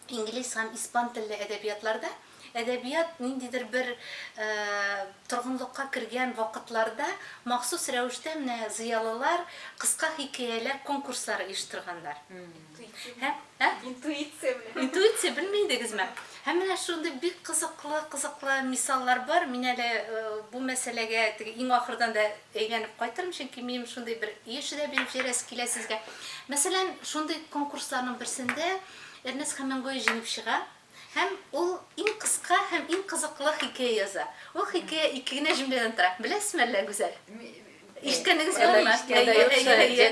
Инглиз һәм испан телле әдәбиятларда әдәбият ниндидер бер торгынлыкка кергән вакытларда махсус рәвештә менә зыялылар кыска хикәяләр конкурслары оештырганнар. Интуиция белән. Интуиция белми идегезме? Һәм менә шундый бик кызыклы, кызыклы мисаллар бар. Мин әле бу мәсьәләгә теге иң ахырдан да әйләнеп кайтырмын, чөнки минем шундый бер еш да биреп җибәрәсе килә сезгә. Мәсәлән, шундый конкурсларның берсендә Эрнест Хемингуэй җиңеп чыга һәм ул иң кыска һәм иң кызыклы хикәя яза. Ул хикәя ике генә җөмләдән тора. Беләсезме әллә, Гүзәл? Ишеткәнегез бармы? Әйе-әйе-әйе.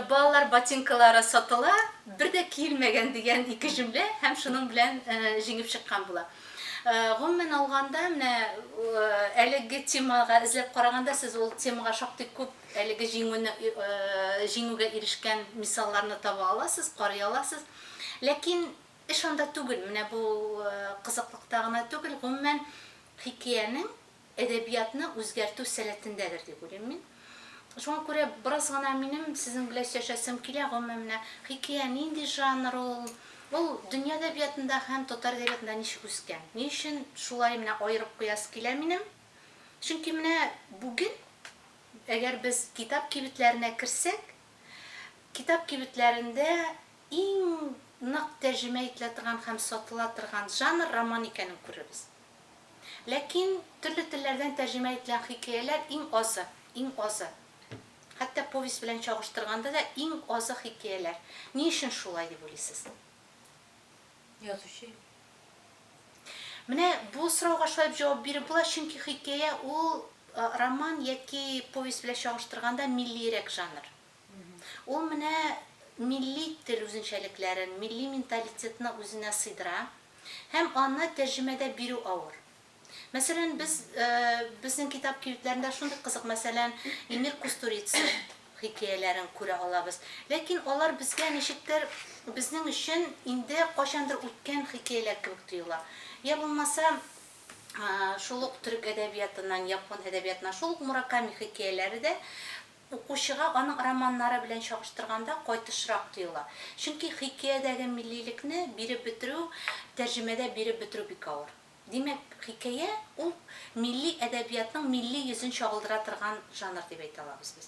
Балалар ботинкалары сатыла, бер дә киелмәгән дигән ике җөмлә һәм шуның белән җиңеп чыккан була. Гомумән алганда, менә әлеге темага эзләп караганда, сез ул темага шактый күп Әлеге җиңүне җиңүгә ирешкән мисалларны таба аласыз, карый аласыз. Ләкин эш анда түгел, менә бу кызыклыкта гына түгел, гомумән, хикәянең әдәбиятны үзгәртү сәләтендәдер дип уйлыйм мин. Шуңа күрә бераз гына минем сезнең белән сөйләшәсем килә, гомумән, менә хикәя нинди жанр ул, ул дөнья әдәбиятында һәм татар әдәбиятында ничек үскән? Ни өчен шулай менә аерып куясы килә минем? Чөнки менә бүген, әгәр без китап кибетләренә керсәк, китап кибетләрендә иң нык тәрҗемә ителә торган һәм сатыла торган жанр роман икәнен күрербез. Ләкин төрле телләрдән тәрҗемә ителгән хикәяләр иң азы, иң азы. Хәтта повесть белән чагыштырганда да иң азы хикәяләр. Ни өчен шулай дип уйлыйсыз? Язучы. Менә бу сорауга шулай дип җавап биреп була, чөнки хикәя ул роман яки повесть белән чагыштырганда миллиерәк жанр. Ул менә милли тел үзенчәлекләрен, милли менталитетны үзенә сыйдыра һәм аны тәрҗемәдә бирү авыр. Мәсәлән, без, безнең китап кибетләрендә шундый кызык, мәсәлән, Эмир Кустурица хикәяләрен күрә алабыз. Ләкин алар безгә ничектер безнең өчен инде кайчандыр үткән хикәяләр кебек тоела. Йә булмаса, шул ук төрек әдәбиятыннан, япон әдәбиятыннан, шул ук Мураками хикәяләре дә укучыга аның романнары белән чагыштырганда кайтышрак тоела. Чөнки хикәядәге миллилекне биреп бетерү, тәрҗемәдә биреп бетерү бик авыр. Димәк, хикәя, ул милли әдәбиятның милли йөзен чагылдыра торган жанр дип әйтә алабыз без.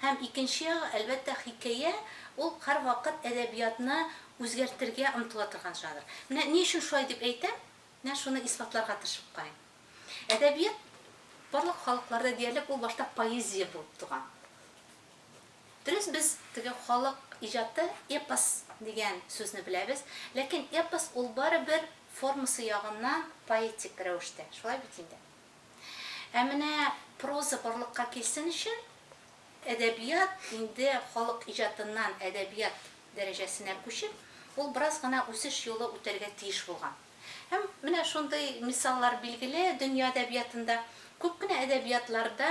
Һәм икенче ягы, әлбәттә, хикәя, ул һәрвакыт әдәбиятны үзгәртергә омтыла торган жанр. Менә ни өчен шулай дип әйтәм, менә шуны исбатларга тырышып карыйм. Әдәбият барлык халыкларда диярлек ул башта поэзия булып туган. Дөрес, без теге халык иҗаты эпос дигән сүзне беләбез, ләкин эпос ул барыбер формасы ягыннан поэтик рәвештә, шулай бит инде? Ә менә проза барлыкка килсен өчен, әдәбият инде халык иҗатыннан әдәбият дәрәҗәсенә күчеп, ул бераз гына үсеш юлы үтәргә тиеш булган. Һәм менә шундый мисаллар билгеле дөнья әдәбиятында. Күп кенә әдәбиятларда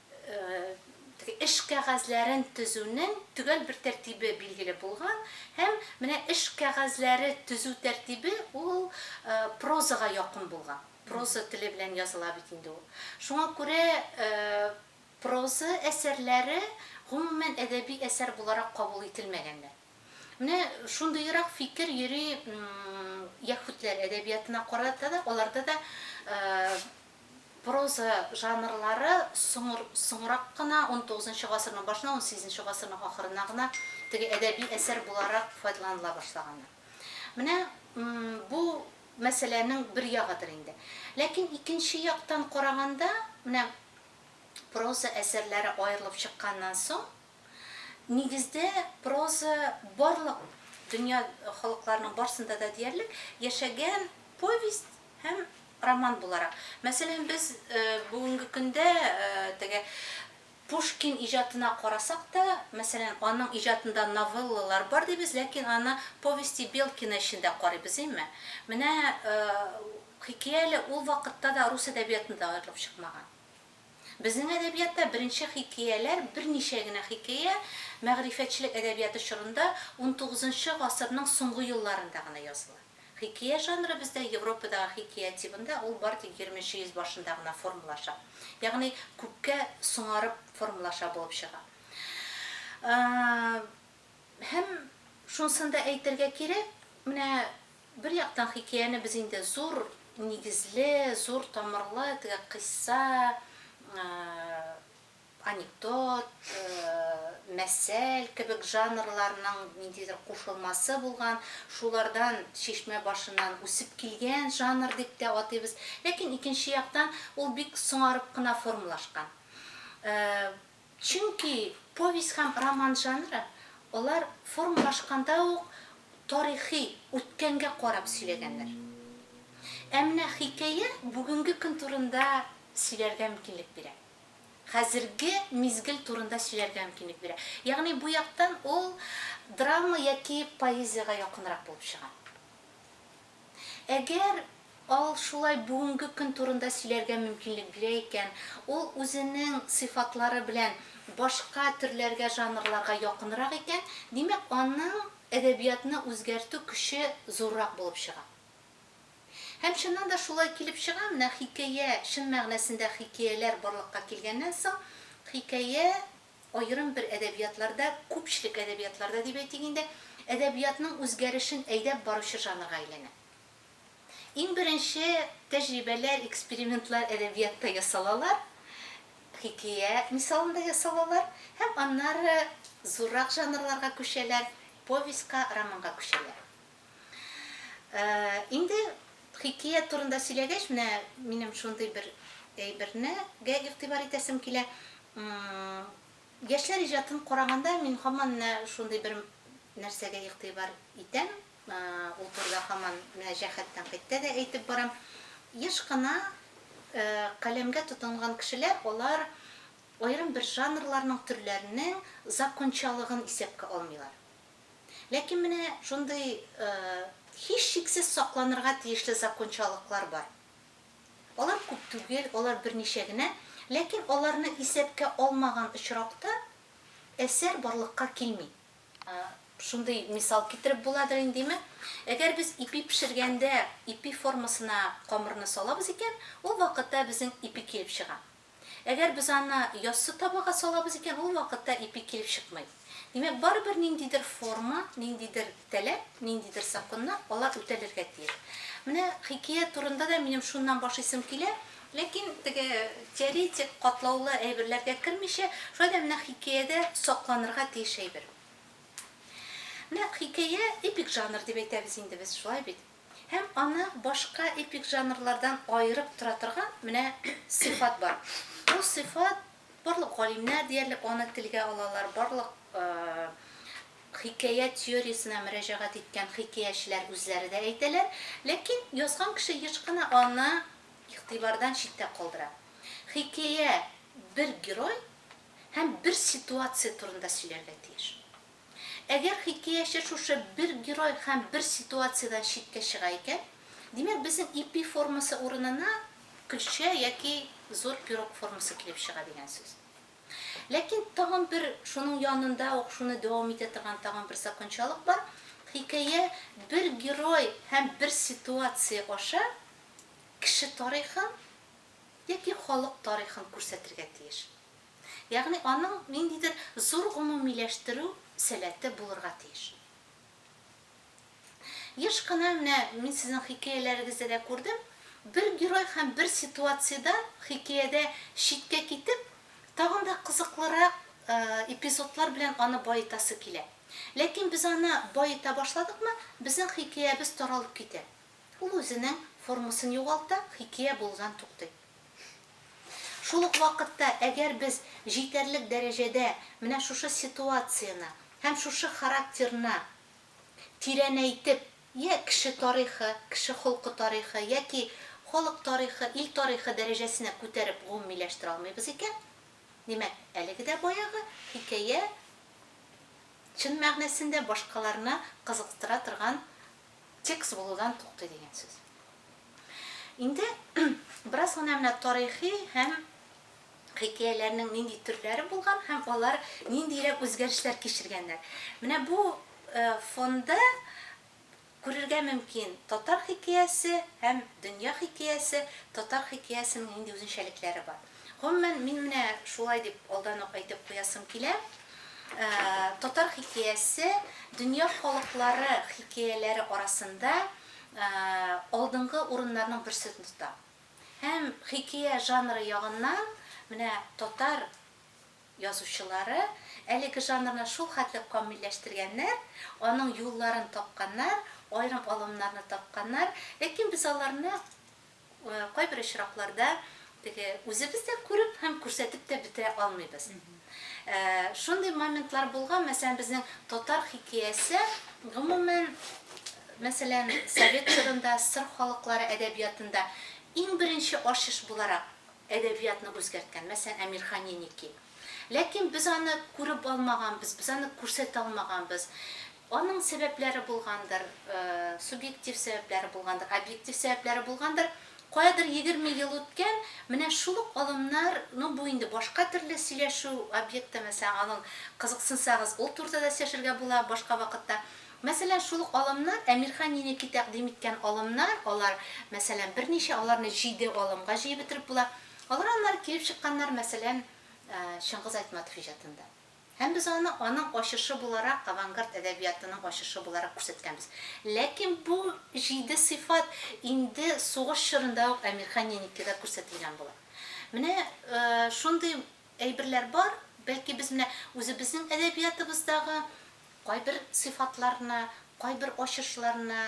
теге эш кәгазьләрен төзүнең төгәл бер тәртибе билгеле булган һәм менә эш кәгазьләре төзү тәртибе ул прозага якын булган. Проза теле белән языла бит инде ул. Шуңа күрә проза әсәрләре гомумән әдәби әсәр буларак кабул ителмәгәннәр. Менә шундыйрак фикер йөри яһүдләр әдәбиятына карата да, аларда да проза жанрлары соңыр, соңрак кына 19 гасырның башына, 18 гасырның ахырына гына теге әдәби әсәр буларак файдаланыла башлаганнар. Менә бу мәсьәләнең бер ягыдыр инде. Ләкин икенче яктан караганда, менә проза әсәрләре аерылып чыкканнан соң, Нигездә, проза барлык дөнья халыкларының барсында да диярлек яшәгән повесть һәм роман буларак. Мәсәлән, без бүгенге көндә теге Пушкин иҗатына карасак та, мәсәлән, аның иҗатында новеллалар бар дибез, ләкин аны Повести Белкина өчен дә карыйбыз, әйме? Менә хикәя әле ул вакытта да рус әдәбиятында аерылып чыкмаган. Безнең әдәбиятта беренче хикәяләр берничә генә хикәя мәгърифәтчелек әдәбияты чорында, унтугызынчы гасырның соңгы елларында гына языла. Хикәя жанры бездә Европадагы хикәя тибында ул бары тик егерменче йөз башында гына формалаша. Ягъни күпкә соңарып формалаша булып чыга. Һәм шунысын да әйтергә кирәк, менә Бер яктан хикәяне без инде зур нигезле, зур тамырлы теге кыйсса, анекдот, мәсәл кебек жанрларның ниндидер кушылмасы булган, шулардан чишмә башыннан үсеп килгән жанр дип тә атыйбыз. Ләкин икенче яктан ул бик соңарып кына формалашкан. Чөнки повесть һәм роман жанры, алар формалашканда ук тарихи, үткәнгә карап сөйләгәннәр. Ә менә хикәя бүгенге көн турында сөйләргә мөмкинлек бирә. Хәзерге мизгел турында сөйләргә мөмкинлек бирә. Ягъни бу яктан ул драма яки поэзиягә якынрак булып чыга. Әгәр ал шулай бүгенге көн турында сөйләргә мөмкинлек бирә икән, ул үзенең сыйфатлары белән башка төрләргә, жанрларга якынрак икән, димәк, аның әдәбиятны үзгәртү көче зуррак булып чыга. Һәм чыннан да шулай килеп чыга, менә хикәя, чын мәгънәсендә хикәяләр барлыкка килгәннән соң, хикәя Аерым бер әдәбиятларда, күпчелек әдәбиятларда дип әйтик инде, әдәбиятның үзгәрешен әйдәп баручы жанрга әйләнә. Иң беренче тәҗрибәләр, экспериментлар әдәбиятта ясалалар, хикәя мисалында ясалалар һәм аннары зуррак жанрларга күчәләр, повестька, романга күчәләр. Инде хикият турында сөйләгәч, менә минем шундый бер әйбернегә игътибар итәсем килә. Яшьләр иҗатын караганда, мин һаман менә шундый бер нәрсәгә игътибар итәм. Ул турыда һаман менә Җәһәт тәнкыйтьтә дә әйтеп барам. Еш кына каләмгә тотынган кешеләр, алар аерым бер жанрларның, төрләрнең закончалыгын исәпкә алмыйлар. Ләкин менә шундый һичшиксез сакланырга тиешле закончалыклар бар. Алар күп түгел, алар берничә генә, ләкин аларны исәпкә алмаган очракта әсәр барлыкка килми. Шундый мисал китереп буладыр индиме, әгәр без ипи пешергәндә ипи формасына камырны салабыз икән, ул вакытта безнең ипи килеп чыга. Әгәр без аны яссы табага салабыз икән, ул вакытта ипи килеп чыкмый. Димәк, барыбер ниндидер форма, ниндидер таләп, ниндидер законнар, алар үтәлергә тиеш. Менә хикәя турында да минем шуннан башлыйсым килә. Ләкин теге теоретик катлаулы әйберләргә кермичә, шулай да менә хикәядә сакланырга тиеш әйбер. Менә хикәя, эпик жанр дип әйтәбез инде без, шулай бит? Һәм аны башка эпик жанрлардан аерып тора торган менә сыйфат бар. Бу сыйфат, барлык галимнәр диярлек аны телгә алалар, барлык хикәя теориясенә мөрәҗәгать иткән хикәячеләр үзләре дә әйтәләр, ләкин язган кеше еш кына аны игътибардан читтә калдыра. Хикәя бер герой һәм бер ситуация турында сөйләргә тиеш. Әгәр хикәяче шушы бер герой һәм бер ситуациядән читкә чыга икән, димәк, безнең ипи формасы урынына көлчә яки зур пирог формасы килеп чыга дигән сүз. Ләкин тагын бер, шуның янында ук шуны дәвам итә торган тагын бер закончалык бар, хикәя бер герой һәм бер ситуация аша кеше тарихын яки халык тарихын күрсәтергә тиеш. Ягъни аның ниндидер зур гомумиләштерү сәләте булырга тиеш. Еш кына, менә мин сезнең хикәяләрегездә дә күрдем, бер герой һәм бер ситуациядән хикәядә читкә китеп, тагын да кызыклырак эпизодлар белән аны баетасы килә. Ләкин без аны баета башладыкмы, безнең хикәябез таралып китә. Ул үзенең формасын югалта, хикәя булудан туктый. Шул ук вакытта, әгәр без җитәрлек дәрәҗәдә менә шушы ситуацияне һәм шушы характерны тирәнәйтеп, йә кеше тарихы, кеше холкы тарихы, яки халык тарихы, ил тарихы дәрәҗәсенә күтәреп гомумиләштерә алмыйбыз икән, димәк, әлеге дә баягы хикәя чын мәгънәсендә башкаларны кызыктыра торган текст булудан туктый дигән сүз. Инде бераз гына менә тарихи һәм хикәяләрнең нинди төрләре булган һәм алар ниндирәк үзгәрешләр кичергәннәр. Менә бу э, фонда күрергә мөмкин татар хикәясе һәм дөнья хикәясе, татар хикәясенең нинди үзенчәлекләре бар. Гомумән, мин менә шулай дип алдан ук әйтеп куясым килә, татар хикәясе дөнья халыклары хикәяләре арасында алдынгы урыннарның берсен тота. Һәм хикәя жанры ягыннан менә татар язучылары әлеге жанрны шул хәтле камилләштергәннәр, аның юлларын тапканнар, аерым алымнарны тапканнар, ләкин без аларны Кайбер очракларда теге үзебез дә күреп һәм күрсәтеп тә бетә алмыйбыз. Шундый моментлар булган, мәсәлән, безнең татар хикәясе, гомумән, мәсәлән, совет чорында сыр халыклары әдәбиятында иң беренче ачыш буларак әдәбиятны үзгәрткән, мәсәлән, Әмирхан Еники. Ләкин без аны күреп алмаганбыз, без аны күрсәтә алмаганбыз. Аның сәбәпләре булгандыр, субъектив сәбәпләре булгандыр, объектив сәбәпләре булгандыр. Каядыр егерме ел үткән, менә шул ук алымнар, ну, бу инде башка төрле сөйләшү объекты, мәсәлән, аның кызыксынсагыз, ул турыда да сөйләшергә була башка вакытта. Мәсәлән, шул ук алымнар, Әмирхан Еники тәкъдим иткән алымнар, алар, мәсәлән, берничә, аларны җиде алымга җыеп бетереп була. Алар аннары килеп чыкканнар, мәсәлән, Чыңгыз Айтматов иҗатында. Һәм без аны аның ачышы буларак, авангард әдәбиятының ачышы буларак күрсәткәнбез. Ләкин бу җиде сыйфат инде сугыш чорында ук Әмирхан Яникида күрсәтелгән була. Менә шундый әйберләр бар, бәлки без менә үзебезнең әдәбиятыбыздагы кайбер сыйфатларны, кайбер ачышларны,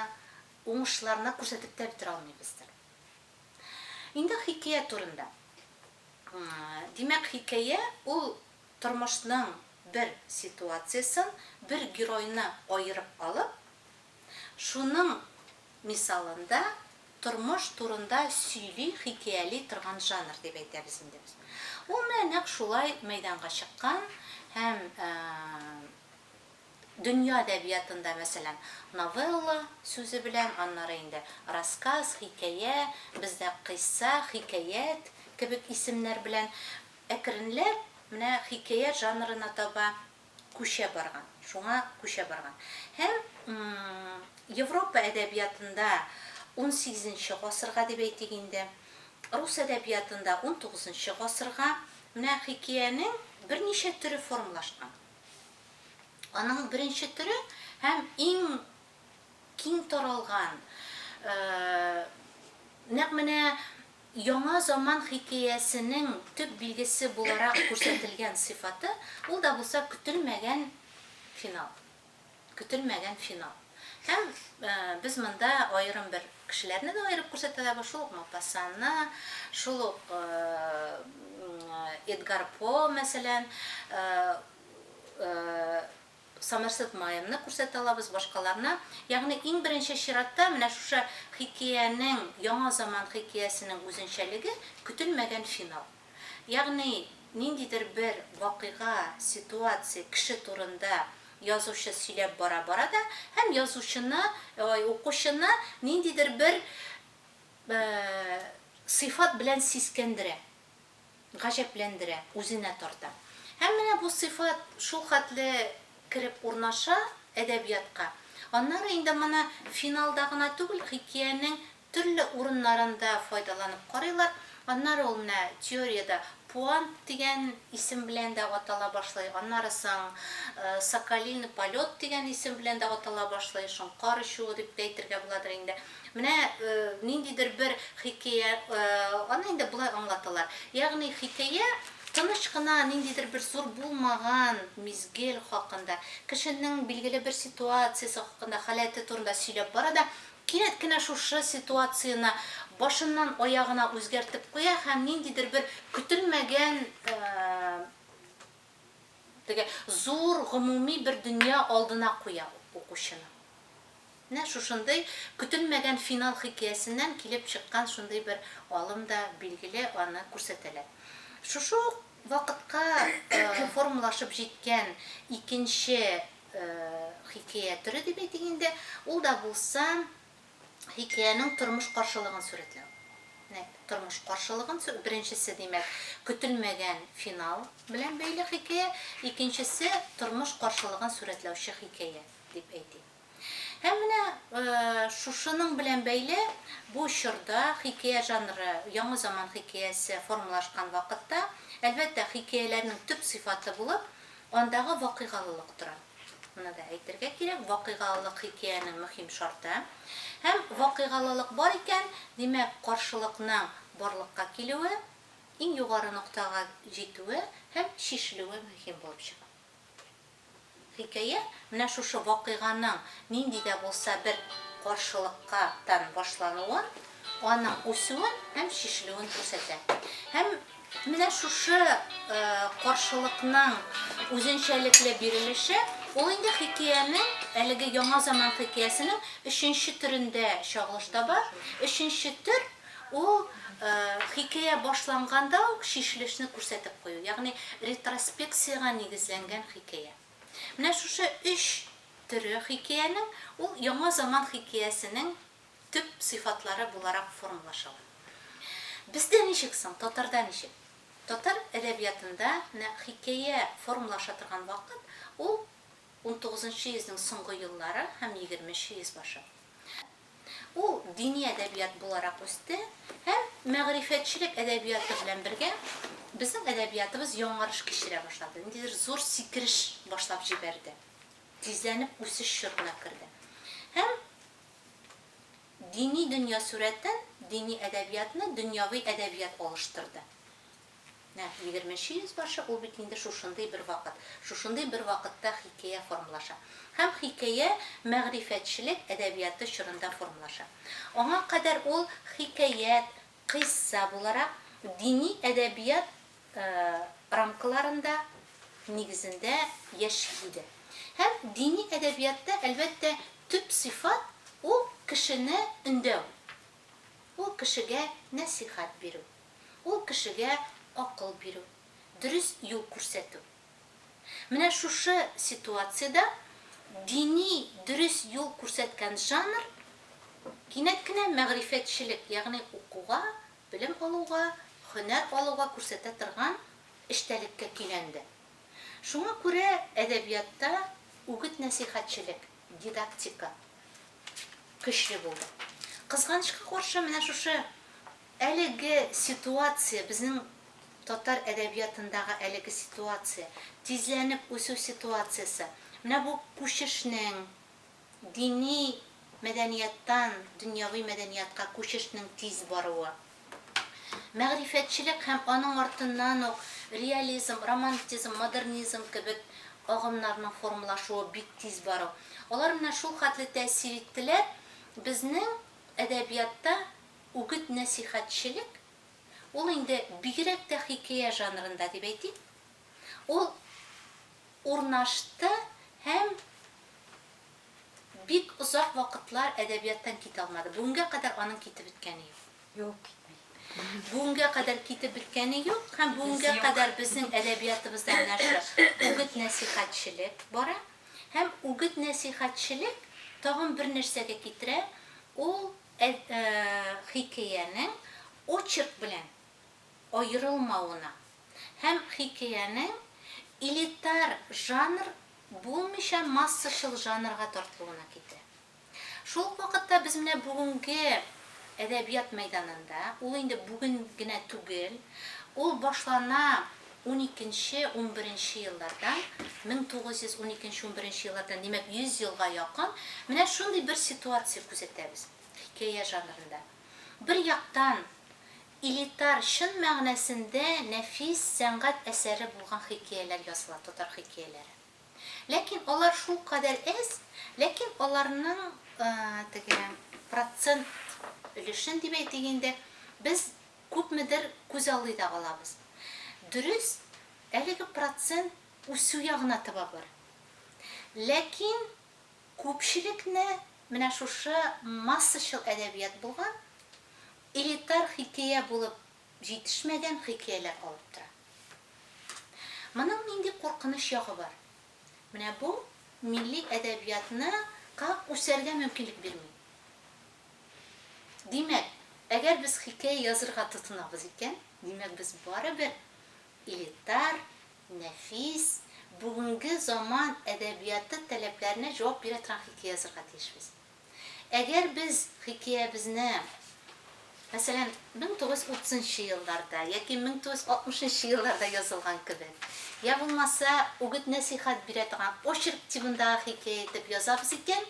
уңышларны күрсәтеп тә бетерә алмыйбыздыр. Инде хикәя турында. Димәк, хикәя ул. Тормышның бер ситуациясен, бер геройны аерып алып, шуның мисалында тормыш турында сөйли, хикәяли торган жанр дип әйтәбез инде без. Ул менә нәкъ шулай мәйданга чыккан һәм дөнья әдәбиятында, мәсәлән, новелла сүзе белән, аннары инде рассказ, хикәя, бездә кыйсса, хикәят кебек исемнәр белән Әкренләп менә хикәя жанрына таба күчә барган, шуңа күчә барган. Һәм Европа әдәбиятында унсигезенче гасырга дип әйтик инде, рус әдәбиятында унтугызынчы гасырга менә хикәянең берничә төре формалашкан. Аның беренче төре һәм иң Киң таралган, нәкъ менә Яңа заман хикәясенең төп билгесе буларак күрсәтелгән сыйфаты, ул да булса көтелмәгән финал. Көтелмәгән финал. Һәм без монда аерым бер кешеләрне дә аерып күрсәтәбез, шул ук Мопассанны, шул ук Эдгар По, мәсәлән, Самырсыт маемны күрсәтә алабыз башкаларына. Ягъни, иң беренче чиратта, менә шушы хикәянең, яңа заман хикәясенең үзенчәлеге, көтелмәгән финал. Ягъни, ниндидер бер вакыйга, ситуация, кеше турында язучы сөйләп бара-бара да һәм язучыны, ой, укучыны ниндидер бер сыйфат белән сискәндерә. Гаҗәпләндерә, үзенә тарта. Һәм менә бу сыйфат шулхәтле кереп урнаша әдәбиятка. Аннары инде моны финалда гына түгел, хикәянең төрле урыннарында файдаланып карыйлар. Аннары ул менә теориядә пуант дигән исем белән дә атала башлый, аннары соң соколиный полет дигән исем белән дә атала башлый, шуң кар очуы дип тә әйтергә буладыр инде. Менә ниндидер бер хикәя, аны инде болай аңлаталар. Ягъни хикәя тыныч кына ниндидер бер зур булмаган мизгел хакында, кешенең билгеле бер ситуациясе хакында, халәте турында сөйләп бара да, кинәт кенә шушы ситуацияне башыннан аягына үзгәртеп куя һәм ниндидер бер көтелмәгән Теге зур гомуми бер дөнья алдына куя укучыны. Менә шушындый көтелмәгән финал хикәясеннән килеп чыккан шундый бер алым да билгеле, аны күрсәтәләр. Шушы ук вакытка формалашып җиткән икенче хикәя төре дип әйтик инде, ул да булса, хикәянең тормыш каршылыгын сурәтләү. Менә тормыш каршылыгын сү беренчесе, димәк, көтелмәгән финал белән бәйле хикәя, икенчесе, тормыш каршылыгын сурәтләүче хикәя, дип әйтик. Һәм менә шушының белән бәйле бу чорда хикәя жанры яңа заман хикәясе формалашкан вакытта, әлбәттә, хикәяләрнең төп сыйфаты булып, андагы вакыйгалылык тора. Моны да әйтергә кирәк, вакыйгалылык хикәянең мөһим шарты. Һәм вакыйгалылык бар икән, димәк, каршылыкның барлыкка килүе, иң югары ноктага җитүе һәм чишелүе мөһим булып чыга. Хикәя менә шушы вакыйганың нинди дә булса бер каршылыкка тан башлануын, аның үсүен һәм чишелүен күрсәтә. Һәм. Менә шушы каршылыкның үзенчәлекле бирелеше, ул инде хикәянең, әлеге яңа заман хикәясенең өченче төрендә чагылыш таба. Өченче төр, ул хикәя башланганда ук чишелешне күрсәтеп кую, ягъни ретроспекциягә нигезләнгән хикәя. Менә шушы өч төре хикәянең, ул яңа заман хикәясенең төп сыйфатлары буларак формалашалар. Бездә ничек соң, татарда ничек? Татар әдәбиятында менә хикәя формалаша торган вакыт, ул унтугызынчы йөзнең соңгы еллары һәм егерменче йөз башы. Ул дини әдәбият буларак үсте һәм мәгърифәтчелек әдәбияты белән бергә безнең әдәбиятыбыз яңарыш кичерә башлады, ниндидер зур сикереш башлап җибәрде, тизләнеп үсеш чорына керде. Һәм Дини дөнья сурәтен, дини әдәбиятны дөньяви әдәбият алыштырды. Нәкъ егерменче йөзбашы, ул бит инде шушындый бер вакыт. Шушындый бер вакытта хикәя формалаша. Һәм хикәя мәгърифәтчелек әдәбияты чорында формалаша. Аңа кадәр ул хикәят, кыйсса буларак, дини әдәбият рамкаларында нигезендә яши иде. Һәм дини әдәбиятта, әлбәттә, төп сыйфат, ул кешене өндәү, ул кешегә нәсыйхәт бирү, ул кешегә акыл бирү, дөрес юл күрсәтү. Менә шушы ситуациядә дини дөрес юл күрсәткән жанр кинәт кенә мәгърифәтчелек, ягъни укуга Белем алуга, һөнәр алуга күрсәтә торган эчтәлеккә көйләнде. Шуңа күрә әдәбиятта үгет-нәсыйхәтчелек, дидактика көчле булды. Кызганычка каршы, менә шушы әлеге ситуация, безнең татар әдәбиятындагы әлеге ситуация, тизләнеп үсү ситуациясе, менә бу күчешнең, Дини мәдәнияттан дөньяви мәдәниятка күчешнең тиз баруы. Мәгърифәтчелек һәм аның артыннан ук реализм, романтизм, модернизм кебек агымнарның формалашуы бик тиз бару. Алар менә шул хәтле тәэсир иттеләр, безнең әдәбиятта үгет-нәсыйхәтчелек, ул инде бигрәк тә хикәя жанрында дип әйтик, ул Урнашты һәм бик озак вакытлар әдәбияттан китә алмады. Бүгенгә кадәр аның китеп беткәне юк. Юк, китми. Бүгенгә кадәр китеп беткәне юк һәм бүгенгә кадәр безнең әдәбиятыбызда менә шул үгет-нәсыйхәтчелек бара. Һәм үгет-нәсыйхәтчелек тагын бер нәрсәгә китерә, ул хикәянең очерк белән аерылмавына һәм хикәянең элитар жанр булмыйча массачыл жанрга тартылуына китерә. Шул ук вакытта без менә бүгенге әдәбият мәйданында, ул инде бүген генә түгел, ул башлана уникенче, унберенче еллардан, 1912 унберенче еллардан, димәк, 100 елга якын, менә шундый бер ситуация күзәтәбез хикәя жанрында. Бер яктан, Элитар, чын мәгънәсендә нәфис сәнгать әсәре булган хикәяләр языла, татар хикәяләре. Ләкин алар шулкадәр әз, ләкин аларның теге процент өлешен дип әйтик инде, без күпмедер күзаллый да алабыз. Дөрес, әлеге процент үсү ягына таба бар. Ләкин күпчелекне менә шушы массачыл әдәбият булган, Элитар хикәя булып җитешмәгән хикәяләр алып тора. Моның нинди куркыныч ягы бар? Менә бу милли әдәбиятны ка үсәргә мөмкинлек бирми. Димәк, әгәр без хикәя язырга тотынабыз икән, димәк без барыбер элитар, нәфис, бүгенге заман әдәбияты таләпләренә җавап бирә торган хикәя язырга тиешбез. Әгәр без хикәябезне, мәсәлән, 1930 нчы елларда яки 1960 нчы елларда язылган кебек, йә булмаса, үгет-нәсыйхәт бирә торган очерк тибындагы хикәя итеп язабыз икән,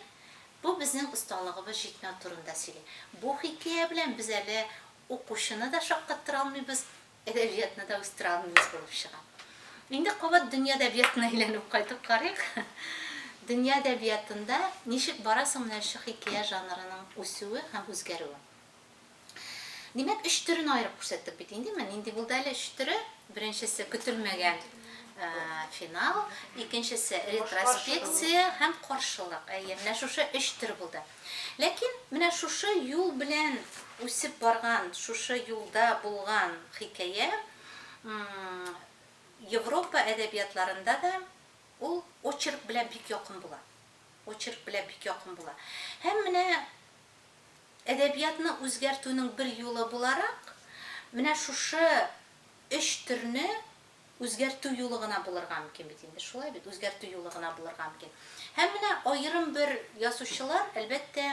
бу безнең осталыгыбыз җитмәү турында сөйли. Бу хикәя белән без әле укучыны да шаккаттыра алмыйбыз, Әдәбиятны да үстерә алмыйбыз булып чыга. Инде кабат дөнья әдәбиятына әйләнеп кайтып карыйк. Дөнья әдәбиятында ничек бара соң менә шушы хикәя жанрының үсүе һәм үзгәрүе? Димәк, өч төрен аерып күрсәттек бит инде. Менә нинди булды әле өч төре? Беренчесе, көтелмәгән финал, икенчесе, ретроспекция һәм каршылык. Әйе, менә шушы өч төр булды. Ләкин менә шушы юл белән үсеп барган, шушы юлда булган хикәя Европа әдәбиятларында да ул очерк белән бик якын була. Очерк белән бик якын була. Һәм менә әдәбиятны үзгәртүнең бер юлы буларак, менә шушы өч төрне Үзгәртү юлы гына булырга мөмкин бит инде, шулай бит, үзгәртү юлы гына булырга мөмкин. Һәм менә аерым бер язучылар, әлбәттә,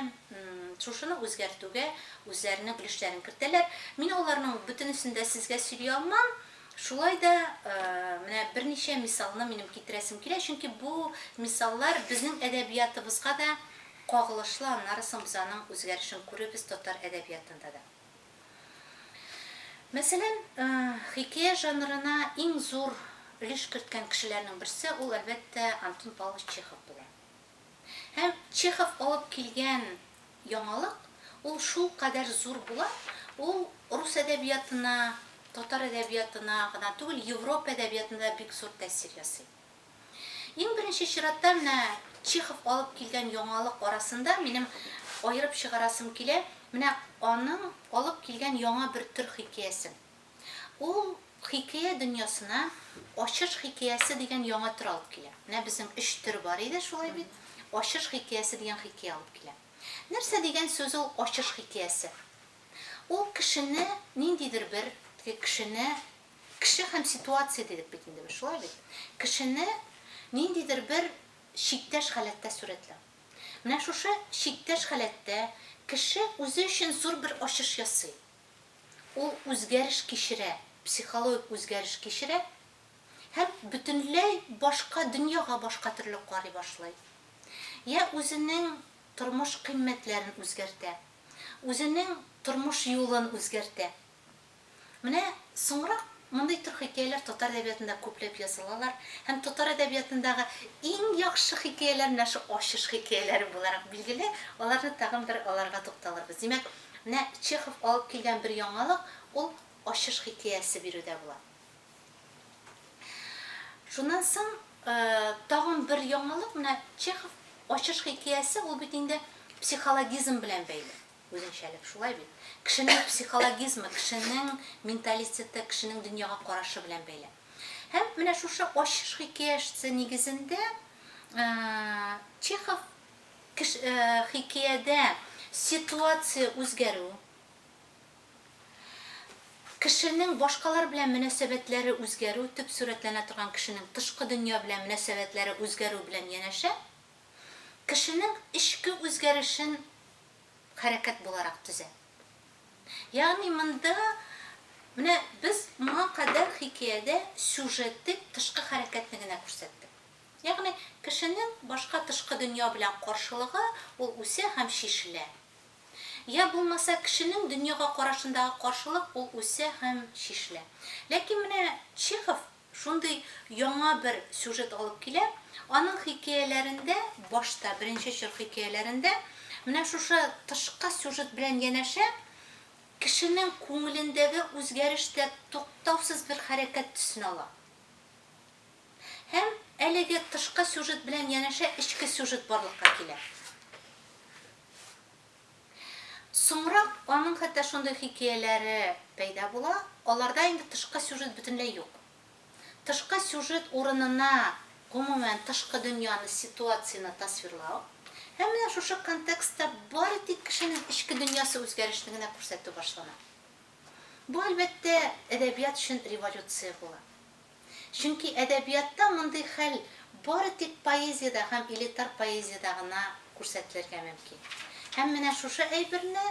шушыны үзгәртүгә үзләренең өлешләрен кертәләр. Мин аларның бөтенесен дә сезгә сөйли алмам, шулай да менә берничә мисалны минем китерәсем килә, чөнки бу мисаллар безнең әдәбиятыбызга да кагылышлы, аннары соң без аның үзгәрешен күрербез татар әдәбиятында да. Мәсәлән, хикәя жанрына иң зур өлеш керткән кешеләрнең берсе, ул, әлбәттә, Антон Павлович Чехов була. Һәм Чехов алып килгән яңалык, ул шулкадәр зур була, ул рус әдәбиятына, татар әдәбиятына гына түгел, Европа әдәбиятына да бик зур тәэсир ясый. Иң беренче чиратта, менә Чехов алып килгән яңалык арасында минем аерып чыгарасым килә, менә аның алып килгән яңа бер төр хикәясен. Ул хикәя дөньясына Ачыш хикәясе дигән яңа төр алып килә. Менә безнең өч төр бар иде, шулай бит? Ачыш хикәясе дигән хикәя алып килә. Нәрсә дигән сүз ул Ачыш хикәясе? Ул кешене, ниндидер бер кешене, Кеше һәм ситуация дидек бит инде без, шулай бит? Кешене ниндидер бер чиктәш халәттә сурәтләү. Менә шушы чиктәш халәттә кеше үзе өчен зур бер ачыш ясый. Ул үзгәреш кичерә, психологик үзгәреш кичерә һәм бөтенләй башка дөньяга башка төрле карый башлый. Йә үзенең тормыш кыйммәтләрен үзгәртә, үзенең тормыш юлын үзгәртә. Менә соңрак мондый төр хикәяләр татар әдәбиятында күпләп язылалар һәм татар әдәбиятындагы иң яхшы хикәяләр менә шул ачыш хикәяләре буларак билгеле, аларны тагын бер аларга тукталырбыз. Димәк, менә Чехов алып килгән бер яңалык, ул ачыш хикәясе бирүдә була. Шуннан соң тагын бер яңалык, менә Чехов ачыш хикәясе, ул бит инде психологизм белән бәйле. Үзенчәлек шулай бит. Кешенең психологизмы, кешенең менталитеты, кешенең дөньяга карашы белән бәйле. Һәм менә шушы Ачыш хикәяшцы нигезендә Чехов кеш, хикәядә ситуация үзгәрү, кешенең башкалар белән мөнәсәбәтләре үзгәрү, төп сурәтләнә торган кешенең тышкы дөнья белән мөнәсәбәтләре үзгәрү белән янәшә, кешенең эчке үзгәрешен хәрәкәт буларак төзә. Ягъни монда менә без моңа кадәр хикәядә сюжеты тышкы хәрәкәтне генә күрсәттек. Ягъни кешенең башка тышкы дөнья белән каршылыгы, ул үсә һәм чишелә. Йә булмаса кешенең дөньяга карашындагы каршылык, ул үсә һәм чишелә. Ләкин менә Чехов Шундый яңа бер сюжет алып килә. Аның хикәяләрендә, башта, беренче чор хикәяләрендә, менә шушы тышкы сюжет белән янәшә, кешенең күңелендәге үзгәреш тә туктаусыз бер хәрәкәт төсен ала. Һәм әлеге тышкы сюжет белән янәшә эчке сюжет барлыкка килә. Соңрак аның хәтта шундый хикәяләре пәйда була, аларда инде тышкы сюжет бөтенләй юк. Тышкы сюжет урынына, гомумән, тышкы дөньяны, ситуацияне тасвирлау һәм менә шушы контекстта бары тик кешенең эчке дөньясы үзгәрешне генә күрсәтү башлана. Бу, әлбәттә, әдәбият өчен революция була. Чөнки әдәбиятта мондый хәл бары тик поэзиядә һәм элитар поэзиядә гына күрсәтелергә мөмкин. Һәм менә шушы әйберне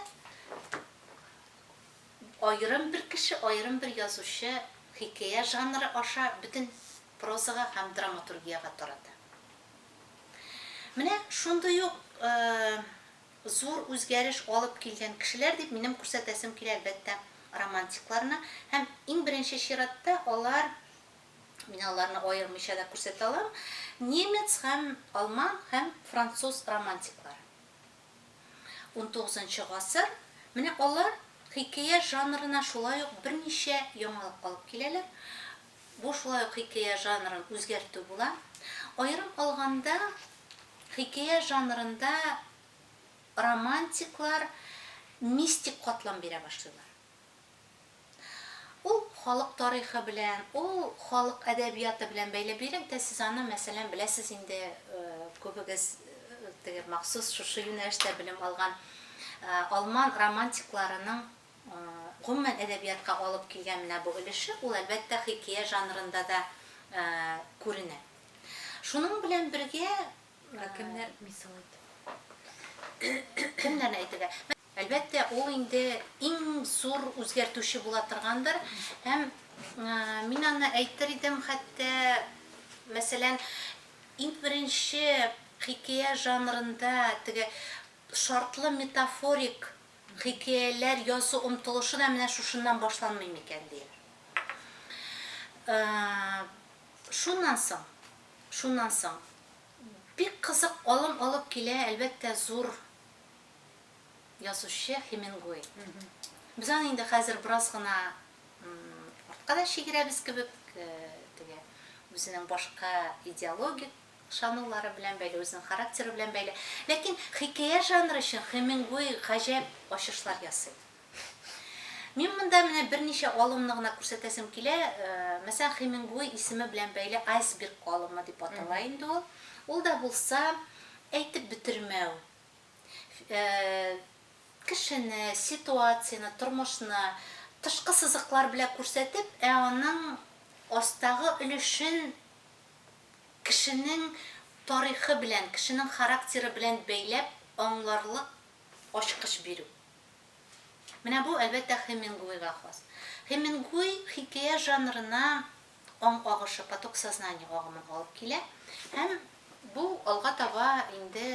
аерым бер кеше, аерым бер язучы хикәя жанры аша бөтен прозага һәм драматургиягә тарата. Менә шундый ук Зур үзгәреш алып килгән кешеләр дип минем күрсәтәсем килә, әлбәттә, романтикларны. Һәм, иң беренче чиратта, алар, мин аларны аермыйча да күрсәтә алам, немец һәм алман һәм француз романтиклары. Унтугызынчы гасыр, менә алар хикәя жанрына шулай ук берничә яңалык алып киләләр. Бу шулай ук хикәя жанрын үзгәртү була. Аерым алганда, хикәя жанрында романтиклар мистик катлам бирә башлыйлар. Ул халык тарихы белән, ул халык әдәбияты белән бәйле. Бигрәк тә сез аны, мәсәлән, беләсез инде, күбегез теге махсус шушы юнәлештә белем алган алман романтикларының Гомумән, әдәбиятка алып килгән менә бу өлеше, ул, әлбәттә, хикәя жанрында да күренә. Шуның белән бергә. Ә кемнәр, мисал ит. Кемнәрне әйтергә? Әлбәттә, ул инде иң зур үзгәртүче була торгандыр. Һәм мин аны әйтер идем, хәтта, мәсәлән, иң беренче хикәя жанрында теге шартлы метафорик Хикәяләр язу омтылышы да менә шушыннан башланмый микән дим. Шуннан соң, шуннан соң бик кызык алым алып килә, әлбәттә, зур язучы Хемингуэй. Без аны инде хәзер бераз гына артка да чигерәбез кебек, теге үзенең башка идеологик Ышанулары белән бәйле, үзенең характеры белән бәйле. Ләкин хикәя жанры өчен Хемингуэй гаҗәп ачышлар ясый. Мин монда менә берничә алымны гына күрсәтәсем килә. Мәсәлән, Хемингуэй исеме белән бәйле айсберг алымы дип атала инде ул. Ул да булса, әйтеп бетермәү. Кешене, ситуацияне, тормышны тышкы сызыклар белән күрсәтеп, ә аның астагы өлешен, Кешенең тарихы белән, кешенең характеры белән бәйләп аңларлык ачкыч бирү. Менә бу, әлбәттә, Хемингуэйга хас. Хемингуэй хикәя жанрына аң агышы, поток сознания агымын алып килә һәм бу алга таба инде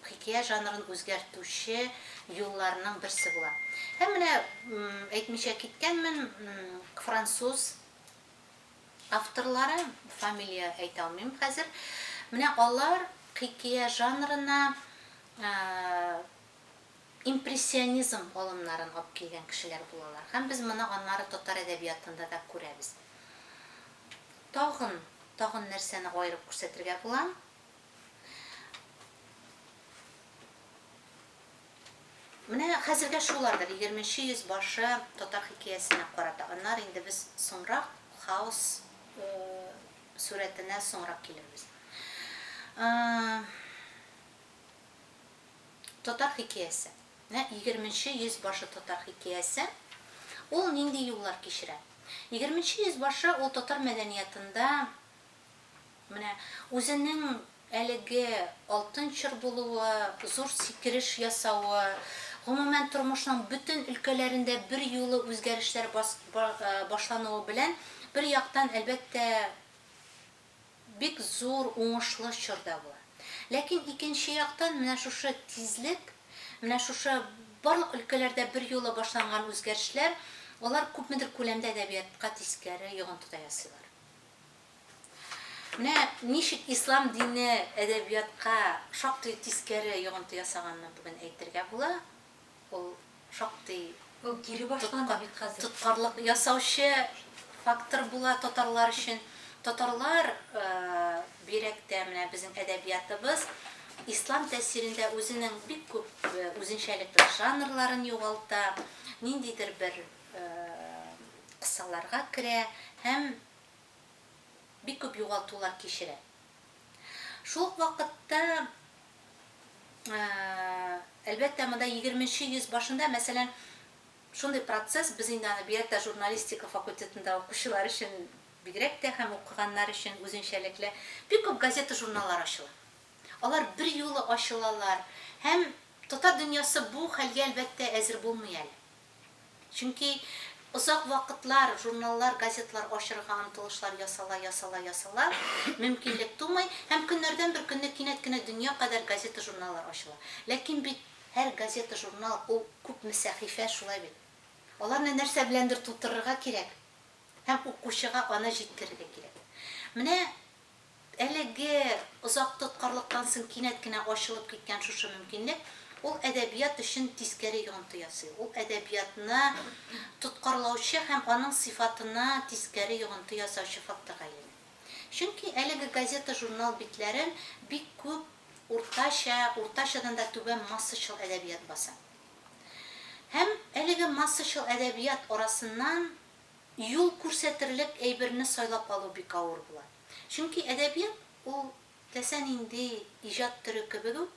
хикәя жанрын үзгәртүче юлларның берсе була. Һәм менә, әйтмичә киткәнмен, француз Авторлары, фамилия әйтә алмыйм хәзер, менә алар хикия жанрына импрессионизм алымнарын алып килгән кешеләр булалар. Һәм без моны аннары татар әдәбиятында да күрәбез. Тагын, тагын нәрсәне аерып күрсәтергә була? Менә хәзергә шулардыр, егерменче йөз башы татар хикәясенә карата. Аннары инде без соңрак хаос сурәтенә соңрак килербез. Татар хикәясе. Менә егерменче йөз башы татар хикәясе. Ул нинди юллар кичерә? Егерменче йөз башы ул татар мәдәниятында Менә үзенең әлеге алтын чор булуы, зур сикереш ясавы, гомумән, тормышның бөтен өлкәләрендә берьюлы үзгәрешләр башлануы белән, бер яктан, әлбәттә, бик зур уңышлы чор да була. Ләкин икенче яктан, менә шушы тизлек, менә шушы барлык өлкәләрдә берьюлы башланган үзгәрешләр, алар күпмедер күләмдә әдәбиятка тискәре йогынты да ясыйлар. Менә ничек ислам дине әдәбиятка шактый тискәре йогынты ясаганны бүген әйтергә була. Ул шактый Ул кире башлана бит хәзер. тоткарлык ясаучы фактор була татарлар өчен. Татарлар бигрәк тә менә безнең әдәбиятыбыз ислам тәэсирендә үзенең бик күп үзенчәлекле жанрларын югалта, ниндидер бер кысаларга керә һәм бик күп югалтулар кичерә. Шул ук вакытта, әлбәттә, монда егерме нче йөз башында, мәсәлән, шундый процесс, без инде аны бигрәк тә журналистика факультетында укучылар өчен бигрәк тә һәм укыганнар өчен үзенчәлекле, бик күп газета-журналлар ачыла. Алар берьюлы ачылалар һәм татар дөньясы бу хәлгә, әлбәттә, әзер булмый әле. Чөнки озак вакытлар журналлар, газетлар ачырга омтылышлар ясала, ясала, ясала, мөмкинлек тумый һәм көннәрдән бер көнне кинәт кенә дөнья кадәр газета-журналлар ачыла. Ләкин бит һәр газета-журнал ул күпме сәхифә, шулай бит? Аларны нәрсә беләндер тутырырга кирәк һәм укучыга аны җиткерергә кирәк. Менә Әлеге озак тоткарлыктан соң кинәт кенә ачылып киткән шушы мөмкинлек, ул әдәбият өчен тискәре йогынты ясый, ул әдәбиятны тоткарлаучы һәм аның сыйфатына тискәре йогынты ясаучы факторга әйләнә. Чөнки әлеге газета-журнал битләрен бик күп уртача, уртачадан да түбән массачыл әдәбият баса. Һәм әлеге массачыл әдәбият арасыннан Юл күрсәтерлек әйберне сайлап алу бик авыр була. Чөнки әдәбият, ул теләсә нинди иҗат төре кебек үк,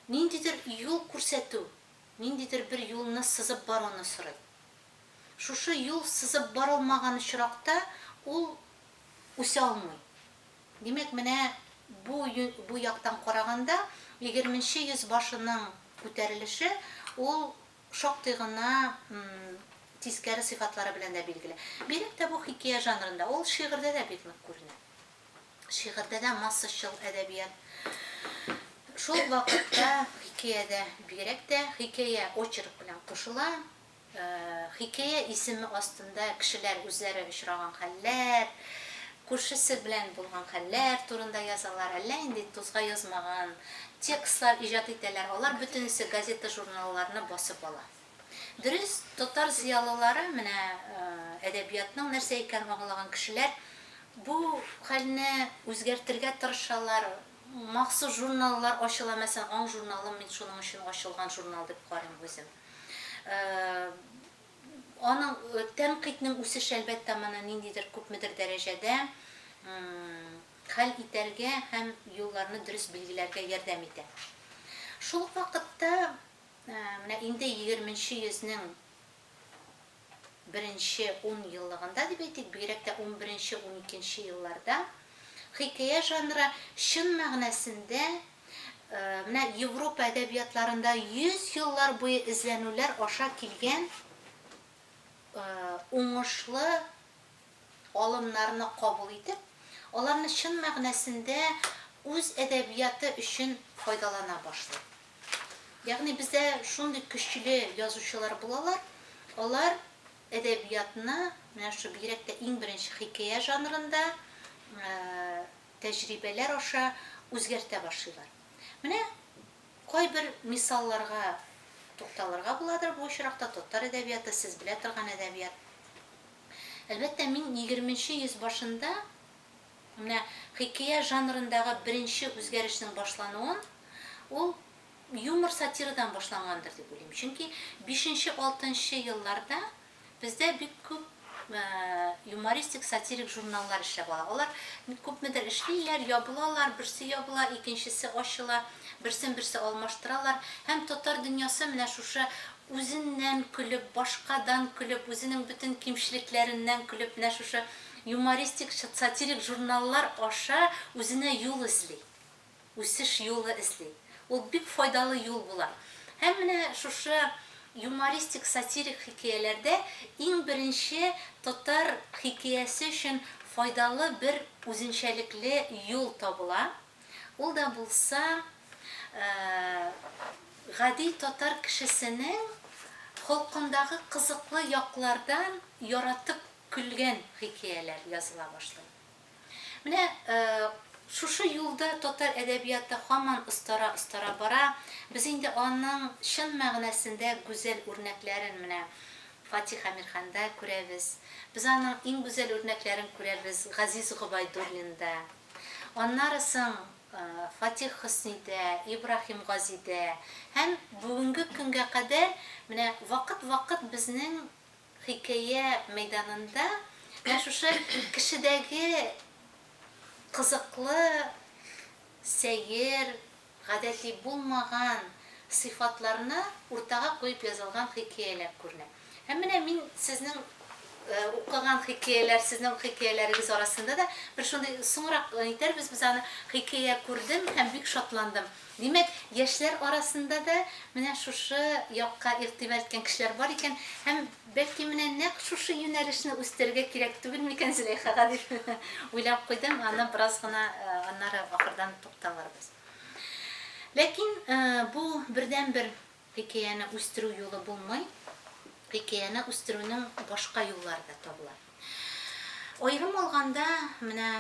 ниндидер юл күрсәтү, ниндидер бер юлны сызып баруны сорый. Шушы юл сызып барылмаган очракта ул үсә алмый. Димәк, менә бу бу яктан караганда, егерменче йөз башының күтәрелеше, ул Шактый гына тискәре сыйфатлары белән дә билгеле. Бигрәк тә бу хикәя жанрында, ул шигырьдә дә бик нык күренә. Шигырьдә дә массачыл әдәбият. Шул вакытта хикәядә бигрәк тә хикәя очерк белән кушыла. Хикәя исеме астында кешеләр үзләре очраган хәлләр, Күршесе белән булган хәлләр турында язалар, әллә инде тузга язмаган текстлар иҗат итәләр, алар бөтенесе газета-журналларны басып ала. Дөрес, татар зыялылары, менә әдәбиятның нәрсә икәнен аңлаган кешеләр, бу хәлне үзгәртергә тырышалар, махсус журналлар ачыла, мәсәлән, Аң журналы, мин шуның өчен ачылган журнал дип карыйм үзем. Аның, тәнкыйтьнең үсеше, әлбәттә, моны ниндидер, күпмедер дәрәҗәдә хәл итәргә һәм юлларны дөрес билгеләргә ярдәм итә. Шул ук вакытта, менә инде егерменче йөзнең беренче ун еллыгында дип әйтик, бигрәк тә унберенче-уникенче елларда хикәя жанры чын мәгънәсендә Менә Европа әдәбиятларында йөз еллар буе эзләнүләр аша килгән уңышлы алымнарны кабул итеп, аларны чын мәгънәсендә үз әдәбияты өчен файдалана башлый. Ягъни бездә шундый көчле язучылар булалар, алар әдәбиятны, менә шушы бигрәк тә иң беренче хикәя жанрында, тәҗрибәләр аша үзгәртә башлыйлар. Менә кайбер мисалларга тукталырга буладыр, бу очракта татар әдәбияты, сез белә торган әдәбият. Әлбәттә, мин егерменче йөз башында менә хикәя жанрындагы беренче үзгәрешнең башлануын, ул юмор-сатирадан башлангандыр дип уйлыйм. Чөнки бишенче-алтынчы елларда Бездә бик күп юмористик-сатирик журналлар эшләп ала. Алар бик күпмедер эшлиләр, ябылалар, берсе ябыла, икенчесе ачыла, берсен-берсе алмаштыралар. Һәм татар дөньясы менә шушы үзеннән көлеп, башкадан көлеп, үзенең бөтен кимчелекләреннән көлеп, менә шушы юмористик-сатирик журналлар аша үзенә юл эзли. үсеш юлы эзли. Ул бик файдалы юл була. Һәм менә шушы юмористик-сатирик хикәяләрдә иң беренче татар хикәясе өчен файдалы бер үзенчәлекле юл табыла. Ул да булса, гади татар кешесенең холкындагы кызыклы яклардан яратып көлгән хикәяләр языла башлый. Менә шушы юлда татар әдәбияты һаман остара-остара бара. Без инде аның чын мәгънәсендә гүзәл үрнәкләрен менә Фатих Әмирханда күрәбез. Без аның иң гүзәл үрнәкләрен күрәбез Газиз Гобәйдуллинда. Аннары соң Фатих Хөснидә, Ибраһим Газидә һәм бүгенге көнгә кадәр менә вакыт-вакыт безнең Хикәя мәйданында менә шушы кешедәге кызыклы, сәер, гадәти булмаган сыйфатларны уртага куеп язылган хикәяләр күренә. Һәм менә мин сезнең укыган хикәяләр, сезнең хикәяләрегез арасында да бер шундый, соңрак әйтәрбез без аны, хикәя күрдем һәм бик шатландым. Димәк, яшьләр арасында да менә шушы якка игътибар иткән кешеләр бар икән һәм, бәлки, менә нәкъ шушы юнәлешне үстерергә кирәк түгел микән Зөләйхага дип уйлап куйдым, аны бераз гына аннары ахырдан тукталырбыз. Ләкин бу бердәнбер хикәяне үстерү юлы булмый, хикәяне үстерүнең башка юллары да табыла. Аерым алганда, менә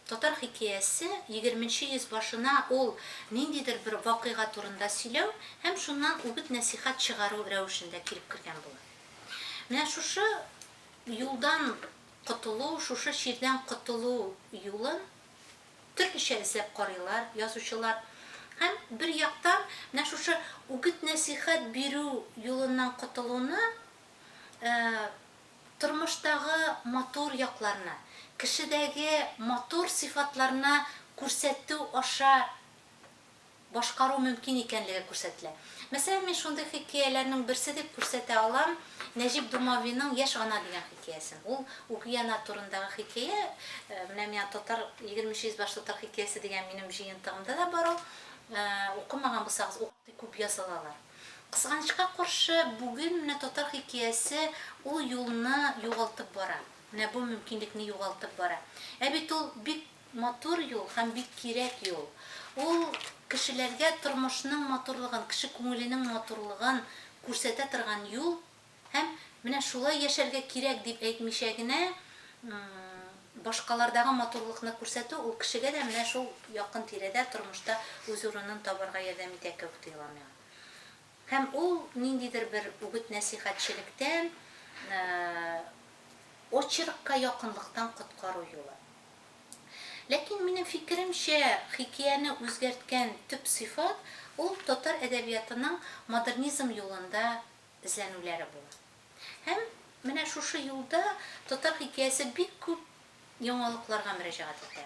Татар хикәясе егерменче йөз башына ул ниндидер бер вакыйга турында сөйләү һәм шуннан үгет-нәсыйхәт чыгару рәвешендә килеп кергән була. Менә шушы юлдан котылу, шушы чирдән котылу юлын төрлечә эзләп карыйлар язучылар. Һәм, бер яктан, менә шушы үгет-нәсыйхәт бирү юлыннан котылуны Тормыштагы матур якларны, кешедәге матур сыйфатларны күрсәтү аша башкару мөмкин икәнлеге күрсәтелә. Мәсәлән, мин шундый хикәяләрнең берсе дип күрсәтә алам Нәҗип Думавиның Яшь ана дигән хикәясен. Ул үги ана турындагы хикәя. Менә миңа татар, егерменче йөзбаш татар хикәясе дигән минем җыентыгымда да бар ул. Укымаган булсагыз, укый күп язылалар. Кызганычка каршы, бүген менә татар хикәясе ул юлны югалтып бара. Менә бу мөмкинлекне югалтып бара. Ә бит ул бик матур юл һәм бик кирәк юл. Ул кешеләргә тормышның матурлыгын, кеше күңеленең матурлыгын күрсәтә торган юл. Һәм менә шулай яшәргә кирәк дип әйтмичә генә, башкалардагы матурлыкны күрсәтү ул кешегә дә менә шул якын тирәдә, тормышта үз урынын табарга ярдәм итә кебек тоела миңа. Һәм ул ниндидер бер үгет-нәсыйхәтчелектән, очеркка якынлыктан коткару юлы. Ләкин минем фикеремчә, хикияне үзгәрткән төп сыйфат ул татар әдәбиятының модернизм юлында эзләнүләре була. Һәм менә шушы юлда татар хикәясе бик күп яңалыкларга мөрәҗәгать итә.